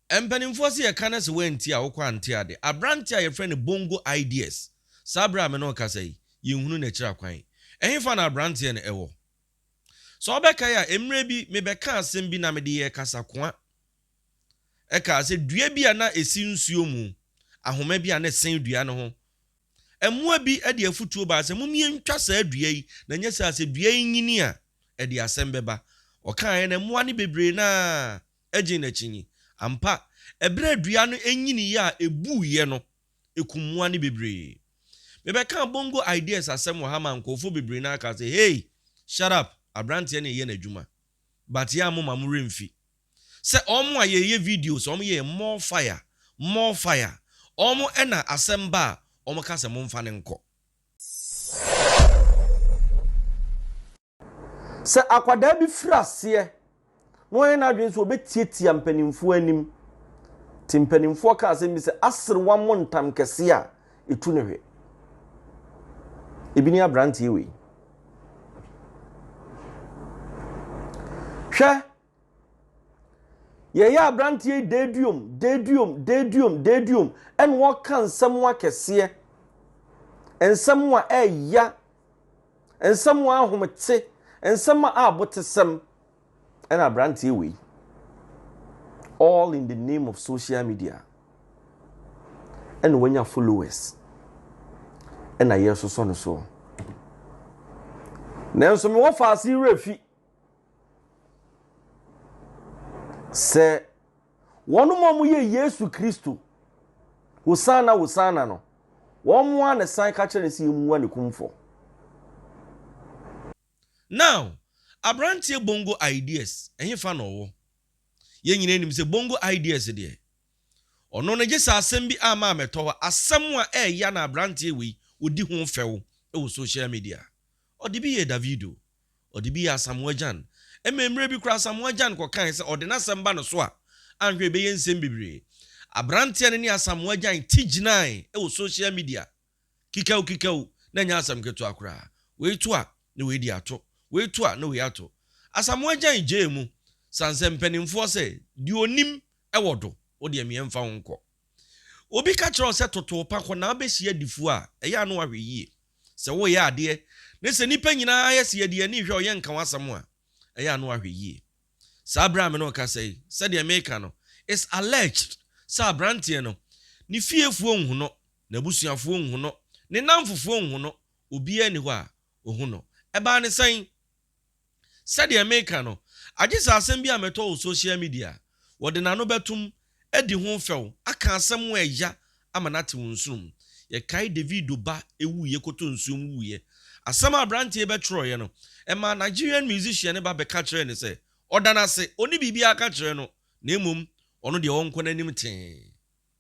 Mpanimfoɔ se yɛka no se woantie a wokɔ ante ade. Aberanteɛ a yɛfrɛ no Bongo Ideas, saa berɛ a me ne wo kasa yi, yɛnhunu n'akyiri akwan. Ɛhefa na aberanteɛ no ɛwɔ? Sɛ wobɛkae a, mmerɛ bi mebɛkaa asɛm bi na mede yɛɛ kasakoa. Ɛkaa sɛ dua bi a na ɛsi nsuo mu, ahoma bi a na ɛsɛn dua no ho. Mmoa bi de afutuo baa sɛ mom yɛntwa saa dua yi na nyɛ saa a sɛ dua yi nyini a ɛde asɛm bɛba. Ɔkaaɛ na mmoa no bebree no ara gyee n'akyi yi. Ampa, bere a dua no nyiniiɛ a ebuuiɛ no, ekum mmoa no bebree. Mebɛkaa Bongo Ideas asɛm wɔ ha maa nkurɔfoɔ bebree na akaa sɛ, Hey! Shut up! Aberanteɛ no reyɛ n'adwuma. But yɛn a mo ma mo werɛ mfi. Sɛ wɔn a yɛreyɛ videos, wɔn yɛɛ more fire, more fire. Wɔn na asɛm ba a, wɔka sɛ momfa no nkɔ. Sɛ akwadaa bi firi aseɛ na wayɛ n'adwene sɛ ɔbɛtiatia mpanimfoɔ anim, te mpanimfoɔ ka asɛm bi sɛ aserewa mmɔ ntam kɛseɛ a, ɛtu no hwe. Ebi ne aberanteɛ wei. Hwɛ Yɛyɛ aberanteɛ yi deduom, deduom, deduom, deduom, ɛna ɔka nsɛm akɛseɛ, nsɛm a ɛya, nsɛm a ahomete, nsɛm a abotesɛm, ɛna aberanteɛ wei. All in the name of social media. Ɛna wanya followers. Ɛna yɛsosɔ no soɔ. Nanso mewɔ faase werɛ fi. Sɛ wɔn a wɔyɛ Yesu Kristo Hosanna Hosanna no, wɔn ara na san ka kyerɛ no sɛ yɛmua ne kumfɔ. Now, abranteɛ Bongo Ideas, ɛhefa na ɔwɔ? Yɛn nyinaa nim sɛ Bongo Ideas deɛ, ɔno no gyesɛ asɛm bi a maa mɛtɔ hɔ, asɛm a ɛɛya na abranteɛ wei ɔdi ho fɛw wɔ social media. Ɔde bi yɛɛ Davido. Ɔde bi yɛ Asamoah Gyan. Ɛma mmerɛ bi koraa Asamoah Gyan kɔkae sɛ ɔde n'asɛm ba no so a, anhwɛ a ɛbɛyɛ nsɛm bebree. Aberanteɛ no ne Asamoah Gyan ti gyinae wɔ social media kikaw kikaw, na ɛnyɛ asɛm ketewa koraa. Wei to a, na wei de ato. Wei to a, na wei ato. Asamoah Gyan gyee mu, sane sɛ mpanimfoɔ sɛ, deɛ ɔnim wɔ do, wo deɛ meɛ mfa wo nkɔ. Obi ka kyerɛ wo sɛ toto wo pa, kɔ na abɛsi adifoɔ a, ɛyɛ a na wahwɛ yie. Sɛ woreyɛ adeɛ ne sɛ nnipa nyinaa ayɛ sɛ yɛde yɛn ani rehwɛ wo, yɛnka w'asɛm a, ɛyɛ a na wahwɛ yie. Saa berɛ a me ne wo rekasa yi, sɛdeɛ mereka no, it's alleged sɛ aberanteɛ no, ne fiefoɔ nhu no, n'abusuafoɔ nhu no, ne nnamfofoɔ nhu no, obiara nni hɔ a ɔhu no. Ɛbaa no sɛn? Sɛdeɛ meka no, agye sɛ asɛm bi a mɛtɔ wɔ social media a, wɔde n'ano bɛtom, adi ho fɛw, aka asɛm a ɛya ama no atew nsono mu. Yɛkae Davido ba wuiɛ kɔtɔ nsuo mu wuiɛ. Asɛm a aberanteɛ yi bɛtwerɛeɛ no, ɛmaa Nigerian musician no ba bɛka kyerɛɛ no sɛ ɔda no ase, ɔnni biribiara ka kyerɛ no, na mmom ɔno deɛ ɔnkɔ n'anim tee.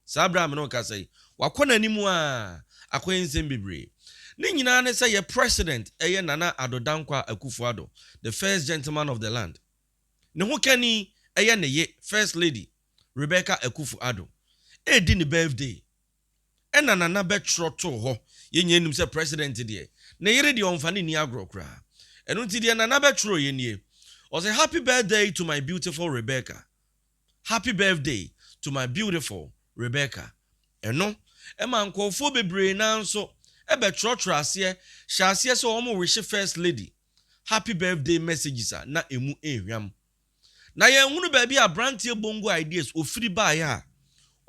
Saa berɛ a me ne wo kasa yi, wakɔ n'anim aa akɔyɛ nsɛm bebree. Ne nyinaa ne sɛ yɛ President yɛ Nana Addo Dankwa Akufo Addo, the first gentleman of the land. Ne ho kani yɛ ne ye First Lady Rebecca Akufo Addo. Ɛredi ne birthday ɛna Nana bɛtwerɛ too hɔ. Yɛn nyinaa nim sɛ President deɛ, ne yere deɛ ɔmfa no nni agorɔ koraa. Ɛno nti deɛ Nana bɛtwerɛeɛ nie, ɔse, Happy birthday to my beautiful Rebecca. Happy birthday to my beautiful Rebecca Ɛno ma nkorɔfoɔ bebree no ara nso bɛtwerɛtwerɛ aseɛ hyɛ aseɛ sɛ wɔn rehye First Lady happy birthday messages a na ɛmu nhwam. Na yɛnhunu baabi a abranteɛ Bongo Ideas ɔfiri baeɛ a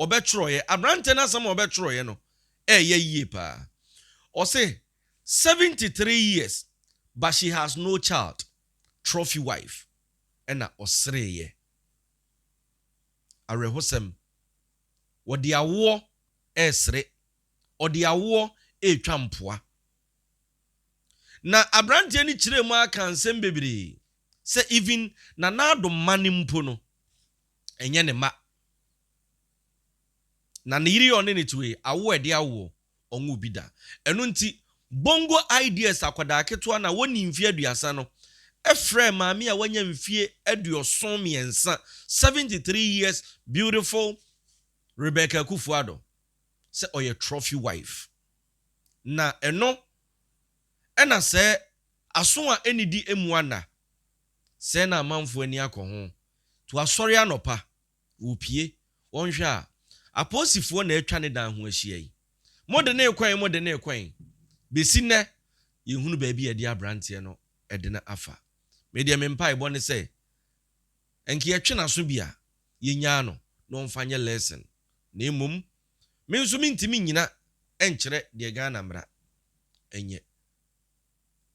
ɔbɛtwerɛeɛ. Abranteɛ no asɛm a ɔbɛtwerɛeɛ no ɛɛyɛ yie pa ara. Ɔse 73 years but she has no child, trophy wife ɛna ɔsereeɛ. Awerɛhosɛm. Wɔde awoɔ resere. Ɔde awoɔ retwa mpoa. Na aberanteɛ no kyerɛɛ mu ara kaa nsɛm bebree sɛ even Nana Addo mma no mpo no, ɛnyɛ ne mma. Na ne yere yɛ ɔne no tewee, awo a ɛde awoɔ, ɔnwoo bi da. Ɛno nti, Bongo Ideas akwadaa ketewa no a ɔnnii mfeɛ aduasa no frɛɛ maame a wanya mfeɛ aduɔson mmiɛnsa, 73 years beautiful Rebecca Akufo-Addo, sɛ ɔyɛ trophy wife. Na ɛno na sɛ aso a ɛnnidi mmua nna, sɛɛ na amanfoɔ ani akɔ ho. To asɔre anɔpa. Opue. Wonhwɛ a, apolisifoɔ na atwa ne dan ho ahyia yi. Mode no rekɔ he, mode no rekɔ he. Bɛsi nnɛ, yɛnhunu baabi a yɛde aberanteɛ no de no afa. Me deɛ me mpaebɔ ne sɛ, nka yɛtwe n'aso bi a, yɛnyaa no na ɔmfa nyɛ lesson. Na mmom, me nso mentumi nnyina nkyerɛ deɛ Ghana mmara nyɛ.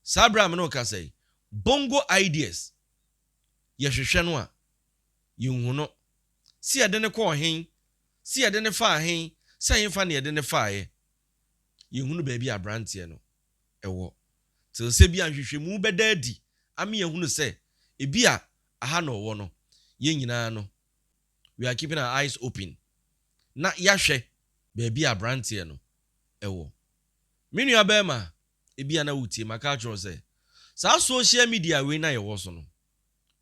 Saa berɛ a me ne wo kasa yi, Bongo Ideas, yɛhwehwɛ no a, Yenhu no. Se yɛde no kɔɔ hen, se yɛde no faa hen, sɛ henfa na yɛde no faeɛ. Yenhunu baabi a abranteɛ no wɔ. Tel sɛ bi a nhwehwɛmu bɛda adi ame yɛahunu sɛ ebi a aha na ɔwɔ no. Yɛn nyinaa no, we are keeping our eyes open na yɛahwɛ baabi a abranteɛ no wɔ. Me nua barima, ebi a na wotie, maka akyerɛ wo sɛ, saa social media wei no a yɛwɔ so no,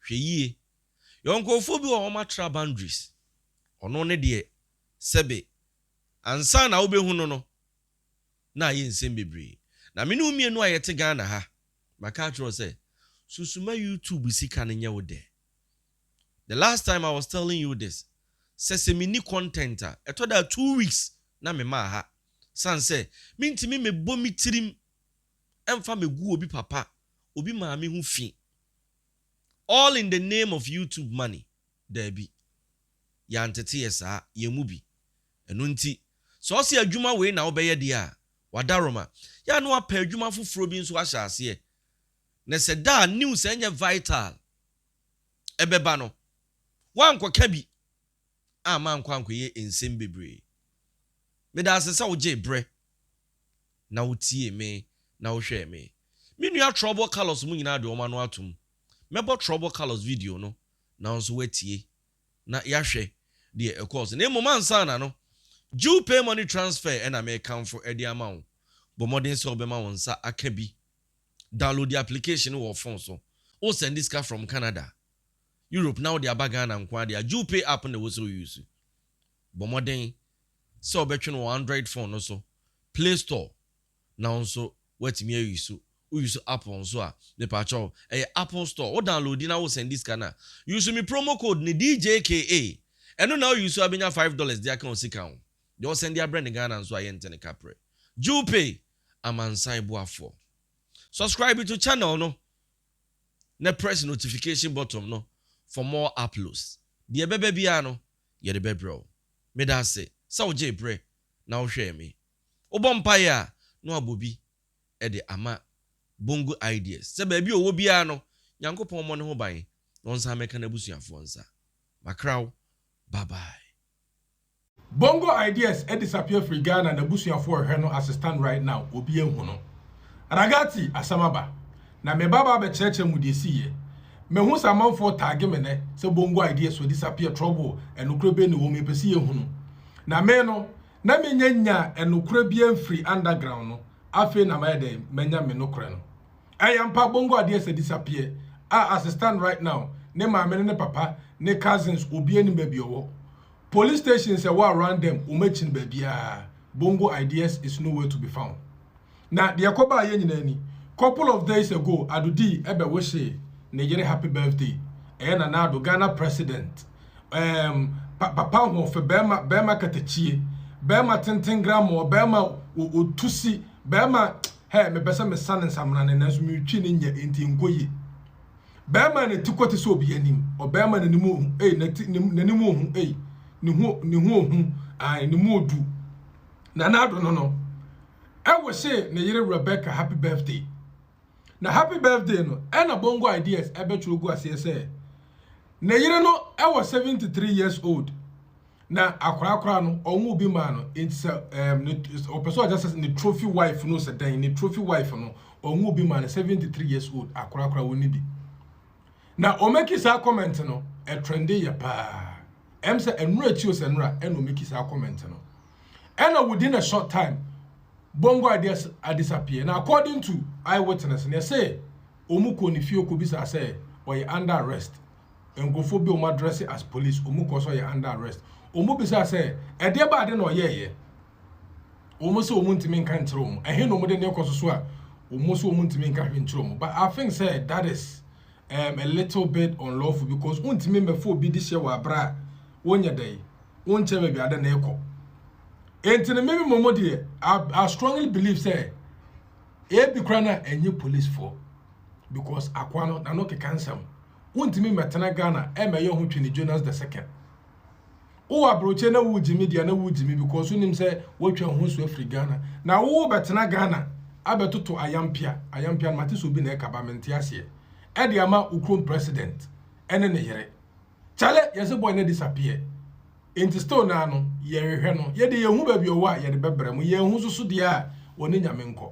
Hwɛ yie. Yɛwɔ nkorɔfoɔ bi wɔ hɔ a wɔatra boundaries. Ɔno ne deɛ sɛbe ansa na wobɛhu no no, na ayɛ nsɛm bebree. Na me ne wo mmienu a yɛte Ghana ha, maka akyerɛ wo sɛ, sunsuma YouTube sika no nyɛ wo dɛ. The last time I was telling you this, sɛ sɛ menni content a, ɛtɔ da a two weeks na mema aha. Sane sɛ, mentumi mmɛbɔ me tirim. mfa megu obi papa obi maame ho fi all in the name of YouTube money daabi yɛantete yɛ saa yɛn mu bi ɛno nti sɛ ɔse adwuma wei na wobɛyɛ deɛ a wada roma yɛ a na wapɛ adwuma foforɔ bi nso ahyɛ aseɛ na sɛ da a news a ɛnyɛ vital ɛbɛba no woankɔka bi. a mankɔ ankɔyɛ nsɛm bebree. Meda ase sɛ wogyee bere na wotiee me na wohwɛɛ me. Me nua Trouble Carlos mo nyinaa de wɔn ano atom. Mɛbɔ Trouble Carlos video no na wo nso woatie na yɛahwɛ deɛ ɛkɔɔ so. Na mmom ansa na no, Jew Pay Money Transfer na merekamfo de ama wo. Bɔ mmɔden sɛ wobɛma wo nsa aka bi. Downloadi application no wɔ wo phone so. Wosɛnde sika from Canada. Europe na wode aba Ghana nkoaa deɛ a Jewpay app na ɛwɔ sɛ wo use. Bɔ mmɔden sɛ wobɛtwe no wɔ Android phone no so, Play Store na wo nso woatumi a use. Wo use Apple nso a, mepakyɛw ɛyɛ Apple Store, wo downloadi na wo sɛndi sika no a, use me promo code no DJKA, ɛno na wo use a bɛnya five dollars de aka wo sika ho. Deɛ ɔsɛndi abrɛ no Ghana nso a yɛnte no kaprɛ. Jewpay, amansan boafoɔ. Subscribe to channel no na press notification button no for more uploads. Deɛ ɛbɛba biara no, yɛde bɛbrɛ wo. Meda ase sɛ wogyee berɛ na wohwɛɛ me. Wobɔ mpaeɛ a, na woabɔ bi de ama Bongo Ideas sɛ baabi a ɔwɔ biara no, Nyankopɔn mmɔ ne ho ban na ɔnsan mmɛka n'abusuafoɔ nsa. Makra wo, bye bye. Bongo ideas disappear firi Ghana n'abusuafoɔ rehwɛ no as stand right now obi anhu no Ragati asɛm aba na me ba ba abɛkyerɛkyerɛ mo deɛ ɛsii yɛ Mahu sɛ amanfoɔ tagge me nnɛ sɛ Bongo ideas wɔ disappear trouble ɛnokorɛ bɛn na ɛwɔ mu yɛpɛ sɛ yɛhunu Na me no na mennya nyaa ɛnokorɛ biara mfirii underground no afei na mayɛ dɛn manya me nokorɛ no Ɛyɛ ampa bongo adeɛ sɛ disappear a as it stand right now ne maame ne ne papa ne cousins obia nim baabi ɔwɔ police stations ɛwɔ around them wɔn akyi no baabiaa bongo ideas is no where to be found na deɛ ɛkɔ baa yɛ nyinaa ni couple of days ago ado dii ɛbɛ wohyee ne yere happy birthday ɛyɛ nana ado Ghana president um, pa, papa ahoɔfɛ bɛrima bɛrima katakyie bɛrima tenten grammɔ bɛrima otusi bɛrima Hey, mepɛ sɛ mesa ne nsamena no, nanso meretwi no nyɛ, enti ɛnkɔ yie. Barima a ne ti kɔ te sɛ obi anim, ɔbarima a n'anim ohu, ei, n'ati, ne, n'anim ohu, ei, ne ho, ne ho ohu, ae, ne mu odu. Nanado no no, ɛwosee ne yere Rebecca happy birthday. Na happy birthday no, ɛna Bongo Ideas ɛbɛtwerɛ gu aseɛ sɛ, ne yere no ɛwɔ 73 years old, Na akwadaa koraa no, wɔn obi maa no. Nti sɛ ɛɛm ne ɔpɛ sɛ ɔkyɛ sɛ ne trophy wife no sɛ dɛn ne trophy wife no, wɔn obi maa no seventy three years old akwadaa koraa wɔn ni bi. Na ɔmɛki saa comment no ɛtrɛnde yɛ paa. Ɛm sɛ ɛnura akyi o sɛ ɛnura ɛna ɔmɛki saa comment no. Ɛna within a short time, bongo ideas adisappear. Na according to eyewitness, ne ɛsɛ wɔn kɔ ne fie kɔ bisa sɛ ɔyɛ under arrest. nkurɔfoɔ bi a wɔadrɛse as police, wɔn kɔɔ so yɛ under arrest. Wɔn bisaa sɛ, ɛdeɛ ba ade na ɔyɛɛyɛ? Wɔn sɛ wɔn ntumi nka nkyerɛ wɔn. Ɛhe na wɔn de ne kɔ so so a wɔn sɛ wɔn ntumi nka hwɛ nkyerɛ wɔn. But I think sɛ that is um, a little bit unlawful because wontumi mmɛfa obi de hyɛ wɔ abere a wonyɛ dɛ yi, wonkyɛ baabi ade na ɛkɔ. Enti no mimi mɔmɔ deɛ, I, I strongly believe sɛ ebi kora na ɛnyɛ policefoɔ. because akoa no n'ano keka nsɛm wontumi mmɛtena Ghana ɛmmɛyɛ ho twene Jonas the second wowɔ abrɔkyɛ na wogye me deɛ na wogye me because wonim sɛ woatwa ho so afiri Ghana na wobɛtena Ghana abɛtoto ayampia ayampia no mate sɛ obi na ɛka ba mente aseɛ ɛde ama wo kurom president ɛne ne yere kyale yɛse boy na disappear enti still naa no yɛhwehwɛ no yɛde yɛhu baabi ɔwɔ a yɛde bɛbrɛ mu yɛhu soso deɛ a wɔne nyame nkɔ